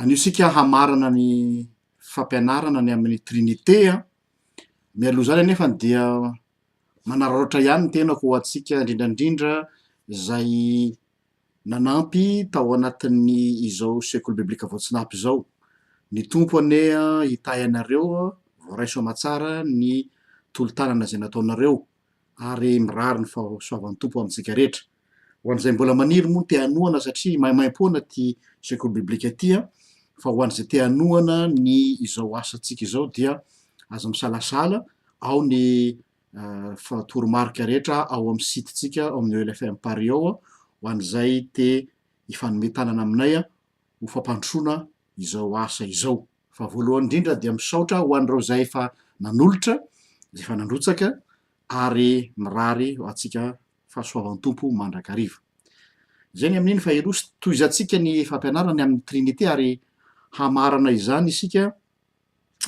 Anio isika hamarana ny fampianarana ny amin'ny Trinite an, mialoha izany anefa dia manararaotra ihany ny tenako ho antsika indrindra indrindra izay nanampy tao anatin'ny izao sekoly biblika voatsinapy izao. Ny Tompo anie an hitahy anareo, voaraiso aman-tsara ny tolo-tanana izay nataonareo. ary mirary ny fahasoavan'ny Tompo amintsika rehetra. Ho an'izay mbola maniry moa ny te hanohana satria maimaimpoana ity sekoly biblika ity an, fa ho an'izay te hanohana ny izao asantsika izao dia aza misalasala, ao ny toromarika rehetra ao amin'ny site-tsika ao amin'ny ELFM Paris ao an, ho an'izay te hifanome tanana aminay ho fampandrosoana izao asa izao. Fa voalohany indrindra dia misaotra ho an'ireo izay efa nanolotra, izay efa nandrotsaka ary mirary ho antsika fahasoavan'ny Tompo mandrakariva. Izay ny amin'iny fa Eros, tohizantsika ny fampianarany amin'ny Trinite ary hamaharana izany isika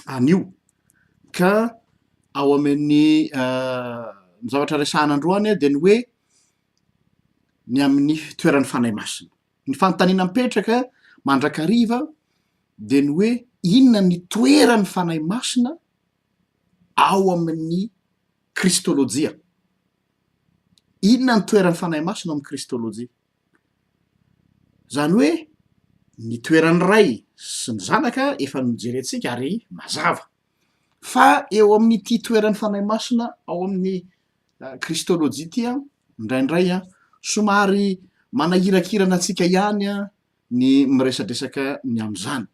anio. Ka ao amin'ny uh, zavatra resahana androany dia ny hoe ny amin'ny toeran'ny Fanahy Masina. Ny fanontaniana mipetraka mandrakariva dia ny hoe inona ny toeran'ny Fanahy Masina ao amin'ny kristôlôjia? Inona ny toeran'ny Fanahy Masina ao amin'ny kristôlôjia? Izany hoe ny toeran'ny Ray sy ny Zanaka efa nojerentsika ary mazava. Fa eo amin'ity toeran'ny fanahy masina ao amin'ny kristôlôjia ity an, indraindray an, somary manahirakirana antsika ihany an ny miresadresaka ny amin'izany.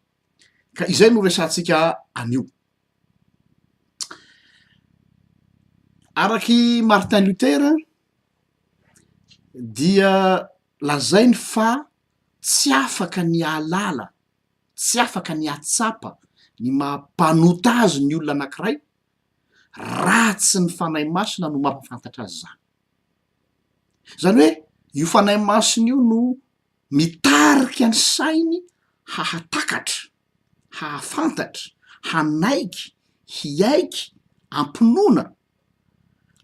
Ka izay no resahantsika anio. Araky Martin Luther dia lazainy fa tsy afaka ny hahalala tsy afaka ny hahatsapa ny maha mpanota azy ny olona anankiray raha tsy ny Fanahy Masina no mampahafantatra azy izany. Izany hoe io Fanahy Masina io no mitarika ny sainy hahatakatra, hahafantatra, hanaiky, hiaiky, hampinoana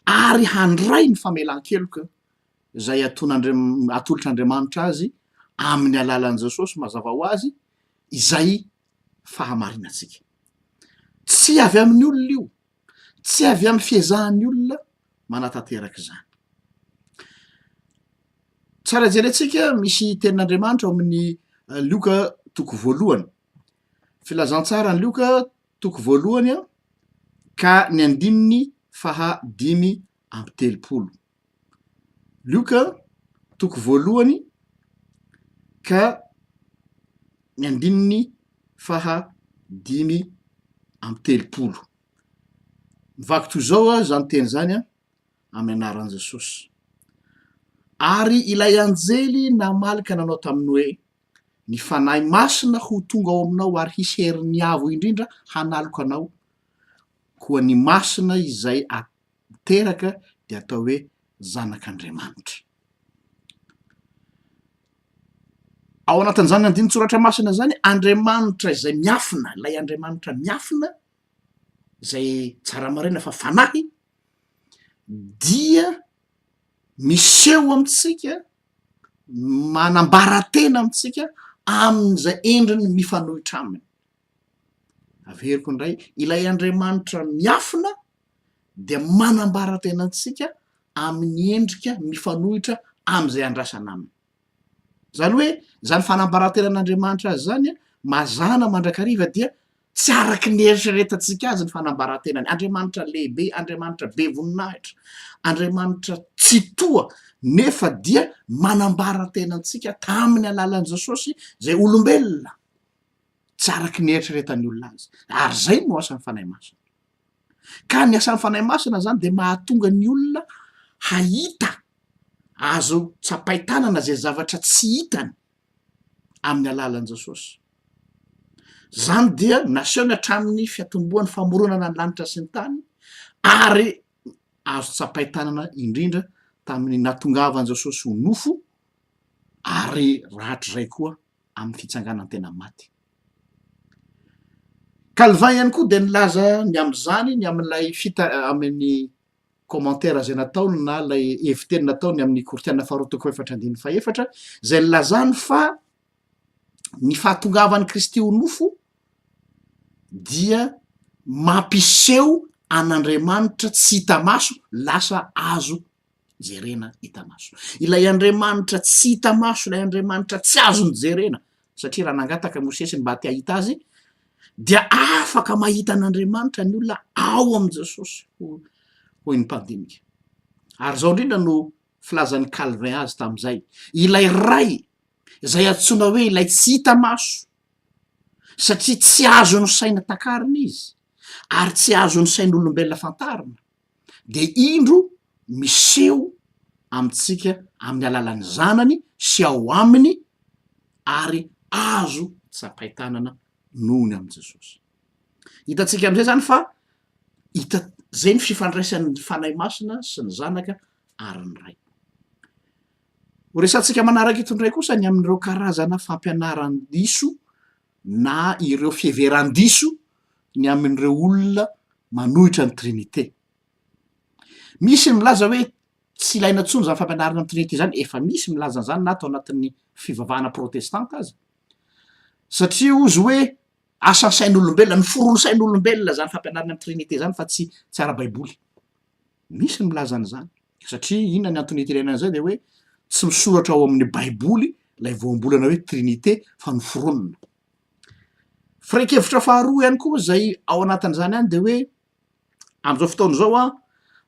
ary handray ny famelan-keloka. izay atolotr'Andriamanitra azy amin'ny alalan'i Jesosy mazava ho azy izay fahamarinantsika. Tsy avy amin'ny olona io, tsy avy amin'ny fiezahan'ny olona manatanteraka izany. Tsara jerentsika misy tenin'Andriamanitra ao amin'ny eh, Lioka toko voalohany. Filazantsara ny Lioka toko voalohany ka ny andininy faha dimy amby telopolo. Lioka toko voalohany ka ny andininy faha dimy amby telopolo. Mivaky toy izao aho izany teny izany an, amin'ny anaran'i Jesosy. Ary ilay anjely namaly ka nanao taminy hoe, Ny Fanahy Masina ho tonga ao aminao ary hisy herin'ny Avo Indrindra hanaloka anao, koa ny masina izay a-. niteraka dia atao hoe zanak'Andriamanitra. Ao anatin'izany andinin-tsoratra masina izany, Andriamanitra izay miafina, ilay Andriamanitra miafina, izay tsara maraina fa fanahy, dia miseho amintsika, manambara tena amintsika amin'izay endriny mifanohitra aminy. Averiko indray, ilay Andriamanitra miafina, dia manambara tena antsika amin'ny endrika mifanohitra amin'izay andrasana aminy. Izany hoe izany fanambaran-tenan'Andriamanitra azy izany an, mazàna mandrakariva dia tsy araka ny eritreretantsika azy ny fanambaran-tenany. Andriamanitra lehibe, Andriamanitra be voninahitra, Andriamanitra tsitoha, nefa dia manambara tena antsika tamin'ny alalan'i Jesosy izay olombelona, tsy araka ny eritreretan'ny olona azy. Ary izay no asan'ny Fanahy Masina. Ka ny asan'ny Fanahy Masina zany dia mahatonga ny olona hahita, azo tsapain-tanana zay zavatra tsy hitany amin'ny alalan'i Jesosy. Zany dia nasehony hatramin'ny fiatombohan'ny famoronana ny lanitra sy ny tany ary azo tsapain-tanana indrindra tamin'ny nahatongavan'i Jesosy ho nofo ary rahatrizay koa amin'ny fitsanganan-tena maty. Calvin ihany koa dia nilaza ny amin'izany ny amin'ilay fita amin'ny commentaire izay nataony na ilay heviteny nataony amin'ny Kortiana faharoa toko efatra andininy fahefatra izay nilazany fa ny fahatongavan'i Kristy ho nofo dia mampiseho an'Andriamanitra tsy hita maso lasa azo jerena hita maso. Ilay Andriamanitra tsy hita maso, ilay Andriamanitra tsy azony jerena, satria raha nangataka Mosesy ny mba te hahita azy, dia afaka mahita an'Andriamanitra ny olona ao amin'i Jesosy, hoy ny mpandinika. Ary izao indrindra no filazan'ny Calvin azy tamin'izay, ilay Ray izay antsoina hoe ilay tsy hita maso, satria tsy azon'ny saina takarina izy, ary tsy azon'ny sain'olombelona fantarina, de indro miseho amintsika amin'ny alalan'ny zanany sy ao aminy ary azo tsapain-tanana noho ny amin'i Jesosy. Hitantsika am'zay zany fa hita zay ny fifandraisan'ny Fanahy Masina sy ny Zanaka ary ny Ray. Horesahantsika manaraka eto indray kosa ny amin'ireo karazana fampianaran-diso na ireo fiheveran-diso ny amin'ireo olona manohitra ny Trinite. Misy ny milaza hoe tsy ilaina intsony izany fampianarana ny Trinite izany, efa misy milaza an'izany na tao anatin'ny fivavahana protestanta aza, satria hozy hoe asan'ny sain'olombelona, noforon'ny sain'olombelona izany fampianarana ny Trinite izany fa tsy tsy ara-baiboly. Misy ny milaza an'izany. Satria inona ny antony iterenana izay dia hoe tsy misoratra ao amin'ny baiboly ilay voambolana hoe trinite fa noforonina. Firaikevitra faharoa ihany koa izay ao anatin'izany any dia hoe amin'izao fotoana izao a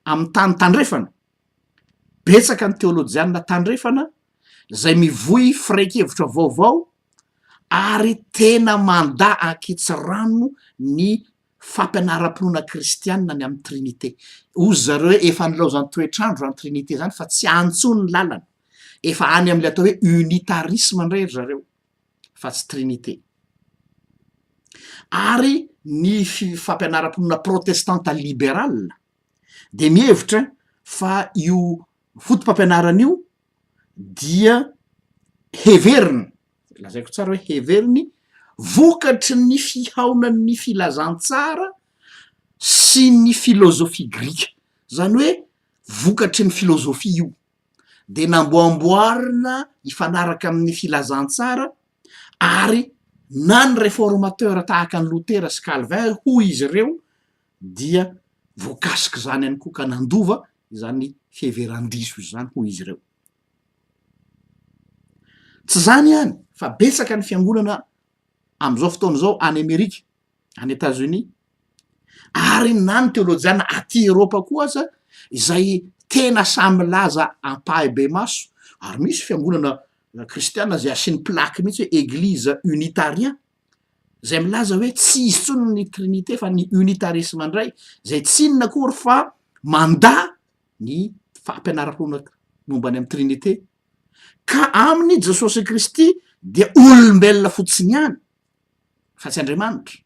amin'ny tany tandrefana betsaka ny teolojianina tandrefana izay mivoy firaikevitra vaovao ary tena manda ankitsirano ny fampianaram-pinoana kristianina ny amin'ny Trinite. Hozy zareo hoe efa nilaozan'ny toetr'andro izany Trinite izany fa tsy any intsony ny lalana. Efa any amin'ilay atao hoe unitarisme indray ry zareo fa tsy Trinite. Ary ny fampianaram-pinoana protestanta liberal dia mihevitra fa io foto-pampianarana io dia heveriny, lazaiko tsara hoe heveriny, vokatry ny fihaonan'ny filazantsara sy ny filozofia grika, zany hoe vokatry ny filozofia io, de namboamboarina hifanaraka amin'ny filazantsara ary na ny reformateur tahaka an'i Lotera sy Calvin hoy izy ireo, dia voakasik'izany ihany koa ka nandova izany fiheveran-diso izany hoy izy ireo. Tsy izany ihany fa betsaka ny fiangonana amin'izao fotoana izao any Amerika, any Etazonia, ary na ny teolojiana aty Eropa koa aza izay tena sahy milaza ampahibemaso ary misy fiangonana kristiana izay asiany plaque mihitsy hoe Eglise Unitariens. izay milaza hoe tsy izy intsony ny trinite fa ny unitarisme indray izay tsy inona akory fa mandà ny fampianara-poana momba any amin'ny trinite ka aminy i jesosy kristy dia olombelona fotsiny ihany fa tsy andriamanitra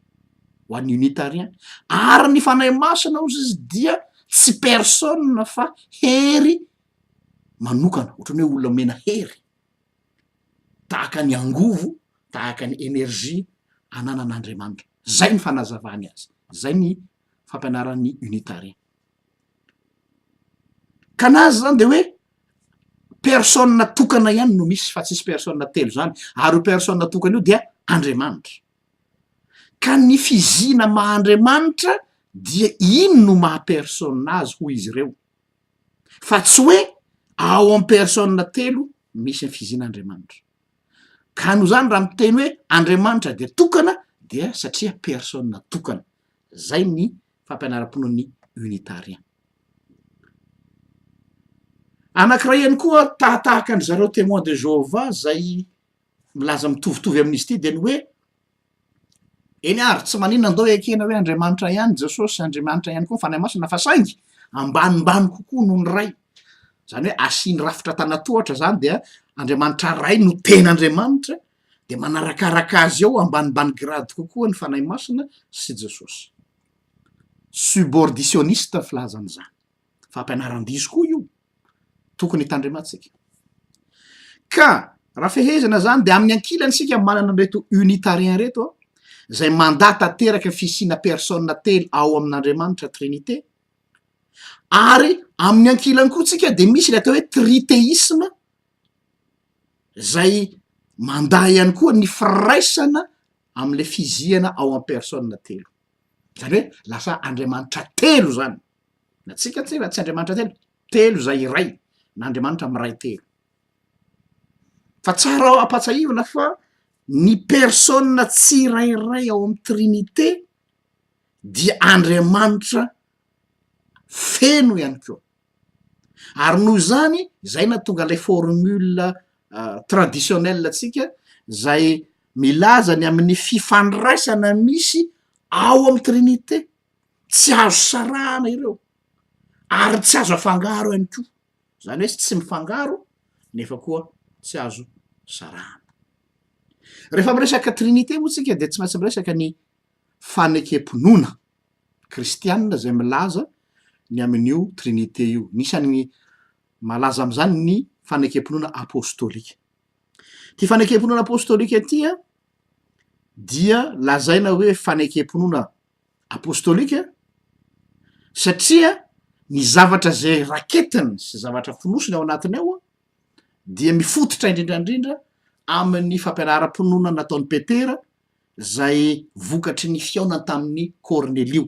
ho an'ny unitarien ary ny fanahy masina ozy izy dia tsy persona fa hery manokana ohatrany hoe olona mena hery tahaka ny angovo, tahaka ny energie ananan'Andriamanitra. Izay ny fanazavany azy. Izay ny fampianaran'ny unitariens. Ka ny azy izany dia hoe personne tokana ihany no misy fa tsisy personne telo izany, ary io personne tokana io dia Andriamanitra. Ka ny fizina maha Andriamanitra dia iny no maha personne azy hoy izy ireo. fa tsy hoe ao am personne telo misy ny fiziana andriamanitra ka noho zany raha miteny hoe andriamanitra dia tokana dia satria personne tokana zay ny fampianaram-ponoan'ny unitarian anakiray ihany koa tahatahaka an-dry zareo temoin de jehovah zay milaza mitovitovy amin'izy ity dia ny hoe Eny ary, tsy maninona ndao ekena hoe Andriamanitra ihany Jesosy, Andriamanitra ihany koa ny Fanahy Masina fa saingy ambanimbany kokoa noho ny Ray, izany hoe asiany rafitra tana-tohatra izany dia Andriamanitra Ray no tena Andriamanitra dia manarakaraka azy eo ambanimbany grade kokoa ny Fanahy Masina sy Jesosy. Suborditionniste ny filazana izany. Fampianaran-diso koa io. tokony hitandremantsika. Ka raha fehezana zany de amin'ny ankilany isika manana an'ireto unitarien ireto a, zay mandà tanteraka fisiana personne telo ao amin'Andriamanitra trinite, ary amin'ny ankilany koa tsika de misy le atao hoe triteisma zay mandà ihany koa ny firaisana am'le fizihana ao am-personne telo, zany hoe lasa Andriamanitra telo zany. Na tsika telo na tsy Andriamanitra telo, telo izay iray, na Andriamanitra miray telo. Fa tsara ho ampatsahivina fa ny persona tsirairay ao amin'ny trinite dia Andriamanitra feno ihany koa. Ary noho izany, izay na tonga ilay formule ah, traditionnelle antsika, izay milaza ny amin'ny fifandraisana misy ao amin'ny trinite. tsy azo sarahana ireo ary tsy azo afangaro ihany koa, zany hoe tsy mifangaro nefa koa tsy azo sarahana. Rehefa miresaka trinite moa tsika dia tsy maintsy miresaka ny fanekem-pinoana kristianina zay milaza ny amin'io trinite io, anisan'ny malaza am'zany ny fanekem-pinoana apostolika. Ty fanekem-pinoana apostolika ty a dia lazaina hoe fanekem-pinoana apostolika satria ny zavatra zay raketiny sy zavatra fonosiny ao anatiny ao dia mifototra indrindrandrindra amin'ny fampianaram-pinoana nataon'i petera zay vokatry ny fihaonany tamin'ny kornelio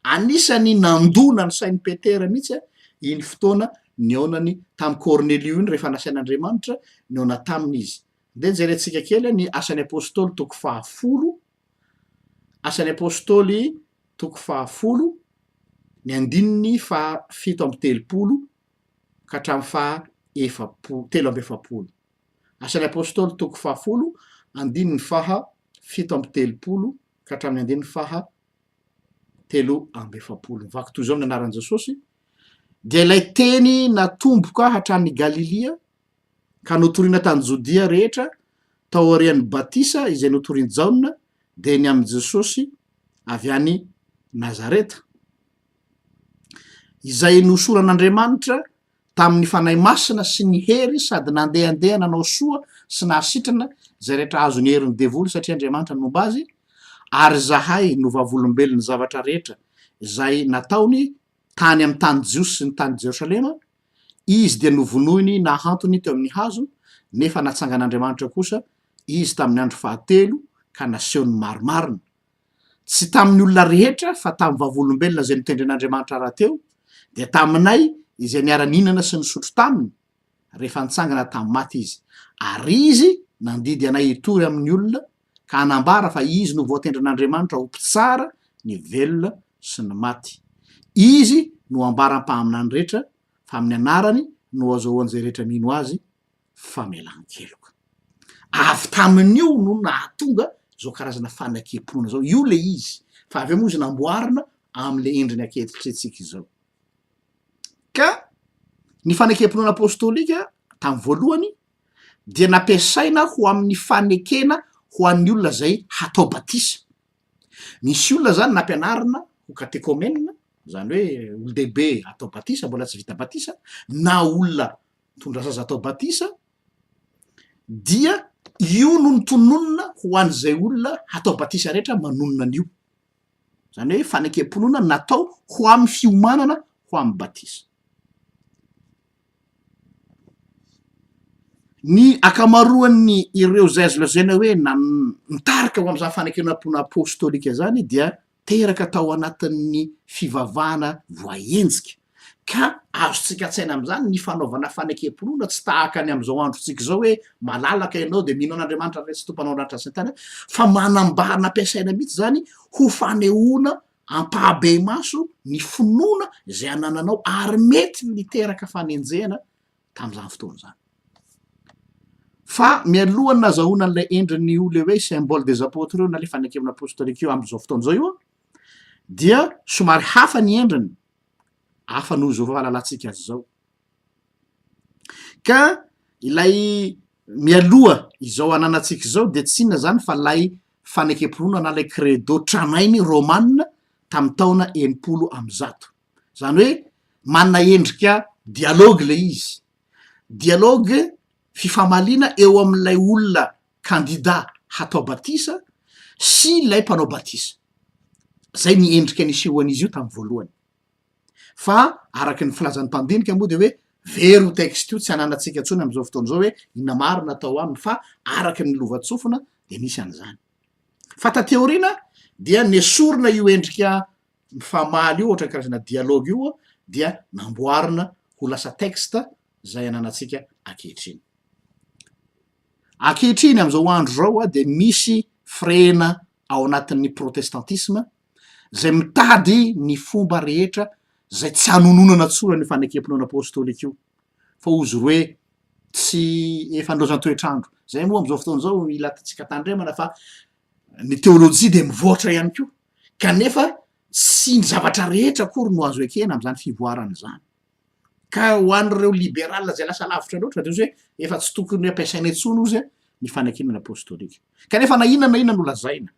anisany nandona ny sain'ny petera mihitsy a iny fotoana ny aonany tamy kornelio iny rehefa nasain'andriamanitra ny aona taminy izy nde njerentsika kely ny asan'ny apostoly toko fahafolo Asan'ny Apôstôly toko fahafolo, ny andininy faha fito amby telopolo ka hatramin'ny faha efapo- telo amby efapolo. Asan'ny Apôstôly toko fahafolo, andininy faha fito amby telopolo ka hatramin'ny andininy faha telo amby efapolo. Mivaky toy izao ny anaran'i Jesôsy, Dia ilay Teny natomboka hatrany Galilia ka notorina tany Jodia rehetra taorian'ny batisa izay notorin'i Jaona dia ny amin'i Jesosy avy any Nazareta, izay nohosoran'Andriamanitra tamin'ny Fanahy Masina sy ny hery sady nandehandeha nanao soa sy nahasitrana izay rehetra azon'ny herin'ny devoly satria Andriamanitra no nomba azy, ary izahay no vavolombelon'ny zavatra rehetra izay nataony tany amin'ny tany jiosy sy ny tany Jerosalema, izy dia novonoiny nahantony teo amin'ny hazo, nefa natsangan'Andriamanitra kosa izy tamin'ny andro fahatelo ka nasehony marimarina, tsy tamin'ny olona rehetra fa tamin'ny vavolombelona izay notendren'Andriamanitra rahateo, dia taminay izay niara-nihinana sy nisotro taminy rehefa nitsangana tamin'ny maty izy, ary izy nandidy anay hitory amin'ny olona ka hanambara fa izy no voatendrin'Andriamanitra ho mpitsara ny velona sy ny maty. Izy no ambara mpaminany rehetra fa amin'ny anarany no azahoan'izay rehetra mino azy famelan-keloka. Avy tamin'io no nahatonga izao karazana fanakem-pinoana izao. Io ilay izy, fa avy eo moa izy namboarina amin'ilay endriny ankehitritrentsika izao. Ka ny fanakem-pinoana apostolika tamin'ny voalohany, dia nampiasaina ho amin'ny fanekena ho an'ny olona izay hatao batisa. Nisy olona izany nampianarina ho katekomenina, izany hoe olon-dehibe atao batisa, mbola tsy vita batisa, na olona mitondra zaza atao batisa, dia io no notononina ho an'izay olona hatao batisa rehetra manonona an'io. Izany hoe fanekem-pinoana natao ho amin'ny fiomanana ho amin'ny batisa. Ny ankamaroan'ny ireo izay azo lazaina hoe nan- nitarika ho amin'izany fanekenam-pona apôstôlika izany dia teraka tao anatin'ny fivavahana voaenjika, ka azontsika an-tsaina amin'izany ny fanaovana fanekem-pinoana tsy tahaka ny amin'izao androntsika izao hoe malalaka ianao dia mino an'Andriamanitra fa tsy tompon'andratra sy ny tariny fa manambara nampiasaina mihitsy izany ho fanehoana Ampahabe-maso ny finoana izay anananao ary mety niteraka fanenjehana tamin'izany fotoana izany. Fa mialoha ny nazahoana an'ilay endriny ho le hoe symbole des apôtres io na le fanekevana apostolika io amin'izao fotoana izao io dia somary hafa ny endriny, hafa noho izao fahalalantsika azy izao. Ka ilay mialoha izao ananantsika izao dia tsy inona izany fa ilay fanekem-pinoana na ilay credo tranainy romana tamin'ny taona enimpolo amby zato, izany hoe manana endrika dialogue ilay izy, dialogue fifamaliana eo amin'ilay olona kandida hatao batisa sy ilay mpanao batisa, izay ny endrika nisehoan'izy io tamin'ny voalohany. fa araka ny filazan'ny mpandinika moa dia hoe very io texte io tsy ananantsika intsony amin'izao fotoana izao hoe inona maro na atao aminy fa araka ny lovantsofina dia nisy an'izany fa taty aoriana dia nesorina io endrika mifamaly io ohatrany karazana dialogue io dia namboarina ho lasa texte izay ananantsika ankehitriny ankehitriny amin'izao andro izao a dia misy frena ao anatin'ny protestantisma izay mitady ny fomba rehetra izay tsy hanononana tsony an'io fanekempinoana apôstôlika io, fa hozy ry hoe tsy efa nilaozan'ny toetr'andro. Izay moa amin'izao fotoana izao ilatantsika tandremana fa ny teôlôjia dia mivoatra ihany koa, kanefa tsy ny zavatra rehetra akory no azo ekena amin'izany fivoarana izany. Ka ho an'ireo liberala izay lasa lavitra loatra dia hozy hoe efa tsy tokony ampiasaina intsony hozy ny fanekemana apôstôlika. Kanefa na inona na inona no lazaina,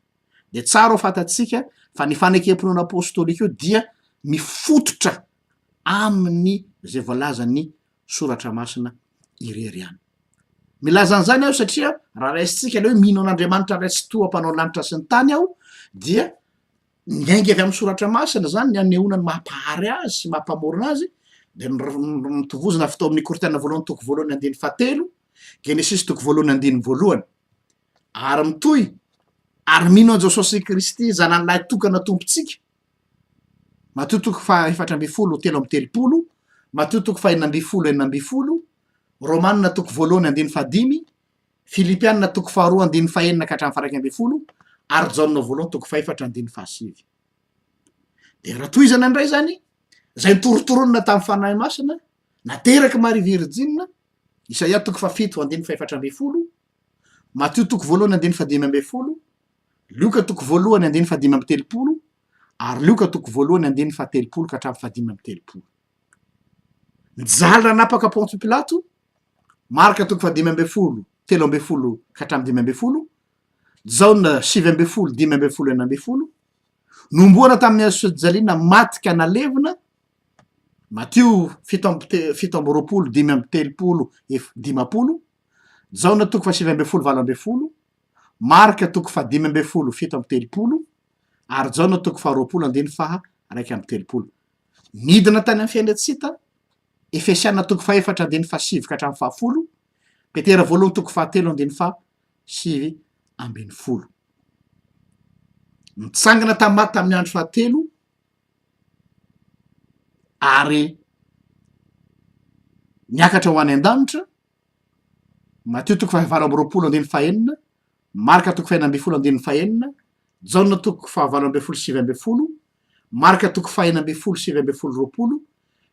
Dia tsara ho fantatsika fa ny fanekem-pinoana apôstôlika io dia mifototra amin'ny izay voalazan'ny soratra masina irery ihany. Milaza an'izany aho satria raha raisintsika ilay hoe mino an'Andriamanitra ray sy toa mpanao lanitra sy ny tany aho dia miainga avy amin'ny soratra masina zany ny anehoana ny mampahary azy sy mampamorona azy dia mitovozina avy tao amin'ny korintana voalohany toko voalohany andiny fahatelo genesisy toko voalohany andiny voalohany Ary mitohy, Ary mino an'i Jesosy Kristy, Zanany Lahy Tokana Tompontsika, Matio toko faha efatra ambin'ny folo telo amby telopolo, Matio toko fahenina ambin'ny folo enina ambin'ny folo, Romanina toko voalohany andininy fahadimy, Filipianina toko faharoa andininy fahenina ka hatramin'ny faharaika ambin'ny folo, ary Jaona voalohany toko fahefatra andininy fahasivy. Dia raha tohizana indray izany, izay nitorotoronina tamin'ny Fanahy Masina, nateraky Maria Virjina, Isaia toko fahafito andininy fahefatra ambin'ny folo, Matio toko voalohany andininy fahadimy ambin'ny folo, Lioka toko voalohany andininy fahadimy amby telopolo, ary Lioka toko voalohany andininy fahatelopolo ka hatramin'ny fahadimy amby telopolo. Nijaly nanapaka Pontio Pilato, Marka toko fahadimy ambin'ny folo, telo ambin'ny folo ka hatramin'ny dimy ambin'ny folo, Jaona sivy ambin'ny folo, dimy ambin'ny folo, enina ambin'ny folo, Nomboana tamin'ny hazo fijaliana maty ka nalevina, Matio fito amby te- fito amby roapolo, dimy amby telopolo, ef- dimampolo, Jaona toko fahasivy ambin'ny folo valo ambin'ny folo, Marka toko fahadimy ambin'ny folo fito amby telopolo, ary Jaona toko faharoapolo andiny faha raika amby telopolo. Nidina tany amin'ny fiainantsita, Efesiana toko fahefatra andiny fahasivy ka hatramin'ny fahafolo, Petera voalohany toko fahatelo andiny faha sivy ambin'ny folo. Nitsangana tamin'ny maty tamin'ny andro fahatelo ary niakatra ho any an-danitra Matio toko fahavalo amby roapolo andininy fahenina, Marka toko fahenina ambin'ny folo andininy fahenina, Jaona toko fahavalo ambin'ny folo sivy ambin'ny folo, Marka toko fahenina ambin'ny folo sivy ambin'ny folo roapolo,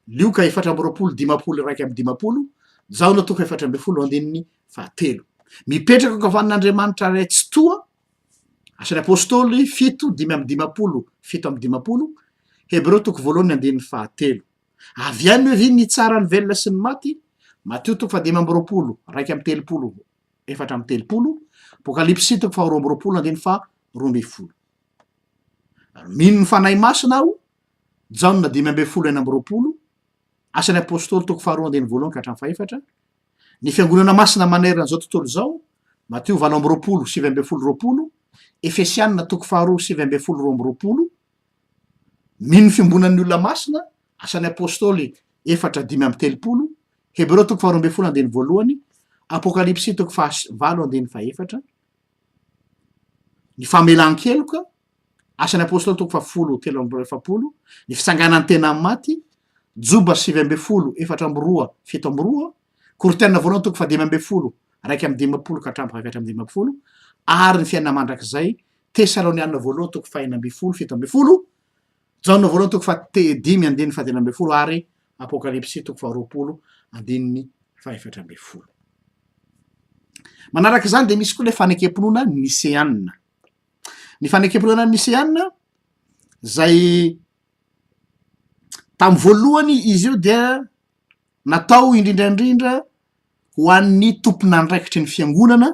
Lioka efatra amby roapolo dimampolo iraika amby dimampolo, Jaona toko efatra ambin'ny folo andininy fahatelo. Mipetraka ankavanan'Andriamanitra Ray Tsitoha, Asan'ny Apôstôly fito dimy amby dimampolo fito amby dimampolo, Hebreo toko voalohany andininy fahatelo. Avy any hoe vy mitsara ny velona sy ny maty, Matio toko fahadimy amby roapolo, iraika amby telopolo, efatra amby telopolo, Apokalypsy toko faharoa amby roapolo andininy faha roa ambin'ny folo. Ary mino ny Fanahy Masina aho, Jaona dimy ambin'ny folo enina amby roapolo, Asan'ny Apôstôly toko faharoa andininy voalohany ka hatramin'ny fahefatra, ny Fiangonana Masina manerana izao tontolo izao, Matio valo amby roapolo, sivy ambin'ny folo roapolo, Efesiana toko faharoa, sivy ambin'ny folo roa amby roapolo, Mino ny fiombonan'ny olona masina, Asan'ny Apôstôly efatra dimy amby telopolo, Hebreo toko faharoa ambin'ny folo andininy voalohany, Apôkalipsy toko faha valo andininy fahefatra, ny famelan-keloka, Asan'ny Apôstôly toko fahafolo telo amby roa efapolo, ny fitsanganan'ny tena amin'ny maty, Joba sivy ambin'ny folo efatra amby roa fito amby roa, Korintiana voalohany toko fahadimy ambin'ny folo raika amby dimampolo ka hatramin'ny fahefatra amby dimampolo, ary ny fiainana mandrakizay, Tesaloniana voalohany toko fahena ambin'ny folo fito ambin'ny folo, Jaona voalohany toko fahadimy andininy fahadimy ambin'ny folo ary Apokalypsy toko faharoapolo andininy fahefatra ambin'ny folo. Manaraka izany dia misy koa ilay fanekem-pinoana niseanina. Ny fanekem-pinoana niseanina zay tamin'ny voalohany izy io dia natao indrindraindrindra ho an'ny tomponandraikitry ny fiangonana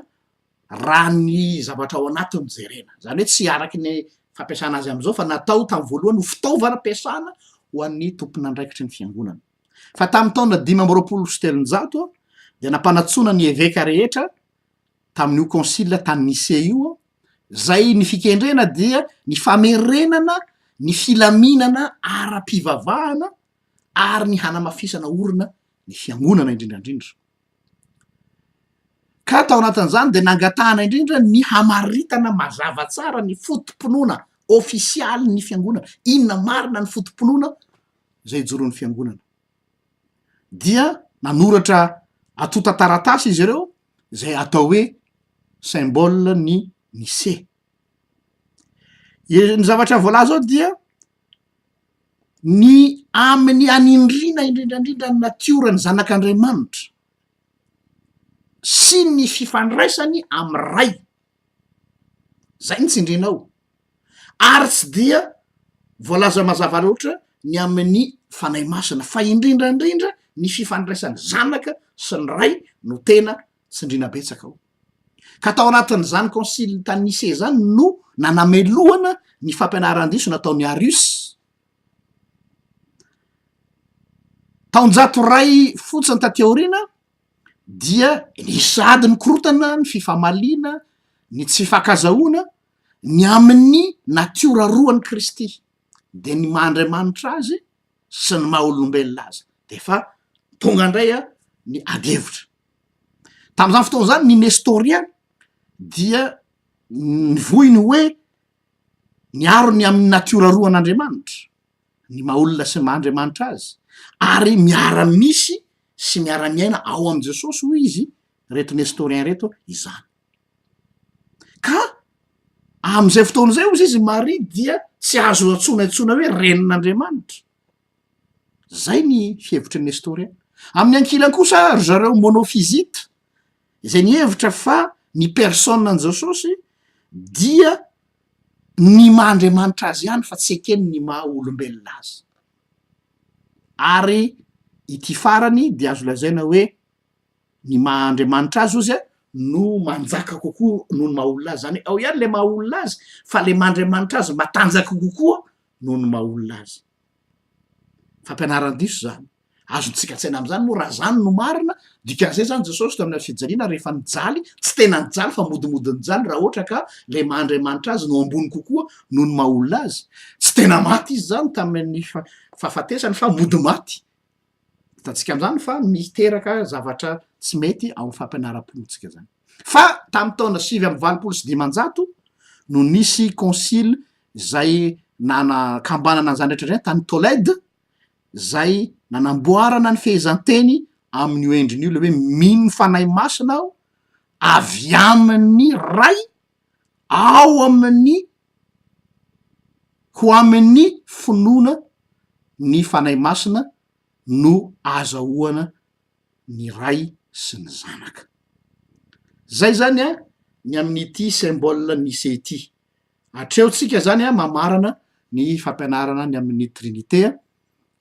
raha ny zavatra ao anatiny no jerena. Izany hoe tsy araka ny fampiasana azy amin'izao fa natao tamin'ny voalohany ho fitaovana ampiasana ho an'ny tompon'andraikitry ny fiangonana. Fa tamin'ny taona dimy amby roapolo sy telonjato dia nampanatsoina ny eveka rehetra tamin'io konsila tany Nicée io aho, izay ny fikendrena dia ny famerenana ny filaminana ara-pivavahana ary ny hanamafisana orina ny fiangonana indrindra indrindra. Ka tao anatin'izany dia nangatahana indrindra ny hamaritana mazava tsara ny foto-pinoana ofisialy ny fiangonana, inona marina ny foto-pinoana izay ijoroan'ny fiangonana. Dia nanoratra antontan-taratasy izy ireo izay atao hoe symbole ny Nicée. Ee, ny zavatra voalaza ao dia ny amin'ny anindriana indrindra indrindra ny natiora ny zanak'andriamanitra sy ny fifandraisany amin'ny ray zay no tsindriana ao ary tsy dia voalaza mazava loatra ny amin'ny fanahy masina fa indrindra indrindra ny fifandraisan'ny zanaka sy ny ray no tena tsindriana betsaka ao ka tao anatin'izany konsily tany nise izany no nanamelohana ny fampianaran-diso nataon'ny arius taonjato ray fotsiny tateoriana dia nisady ny korotana ny fifamaliana ny tsy fakazahoana ny amin'ny natiora roany kristy dia ny maha andriamanitra azy sy ny maha olombelona azy de efa tonga indray a ny adihevitra Tamin'izany fotoana izany ny Nestorian dia nivohy ny hoe miaro ny amin'ny natiora roa an'Andriamanitra, ny maha olona sy ny maha Andriamanitra azy, ary miara-misy sy miara-miaina ao amin'i Jesosy hoy izy ireto Nestorian ireto izany. Ka amin'izay fotoana izay hozy izy i Maria dia tsy azo antsoina intsony hoe renin'Andriamanitra. Izay ny fihevitry Nestoria. Amin'ny ankilany kosa ry zareo Monofizita, izay nihevitra fa ny personan'i Jesosy dia ny maha Andriamanitra azy ihany fa tsy ekeny ny maha olombelona azy. Ary ity farany dia azo lazaina hoe ny maha Andriamanitra azy ozy no manjaka kokoa noho ny maha olona azy. Izany hoe ao ihany ilay maha olona azy fa ilay maha Andriamanitra azy matanjaka kokoa noho ny maha olona azy. Fampianaran-diso izany. Azontsika an-tsaina amin'izany moa raha izany no marina. Dikan'izay izany Jesosy teo amin'ilay fijaliana rehefa nijaly, tsy tena nijaly fa modimody nijaly raha ohatra ka ilay maha Andriamanitra azy no ambony kokoa noho ny maha olona azy. Tsy tena maty izy izany tamin'ny fahafatesany fa mody maty. Hitantsika amin'izany fa miteraka zavatra tsy mety ao amin'ny fampianaram-ponintsika izany. Fa tamin'ny taona sivy amby valopolo sy dimanjato no nisy konsily izay nanakambanana an'izany rehetra izany tany Tolède, izay nanamboarana ny fehezanteny amin'io endriny io ilay hoe mino ny Fanahy Masina aho, avy amin'ny Ray. ao amin'ny ho amin'ny finoana ny Fanahy Masina no ahazahoana ny Ray sy ny Zanaka, zay zany an ny amin'ity symbole nice ity, hatreo tsika zany an mamarana ny fampianarana ny amin'ny trinite an,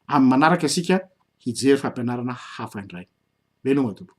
amin'ny manaraka isika hijery fampianarana hafa indray, veloma tompoko.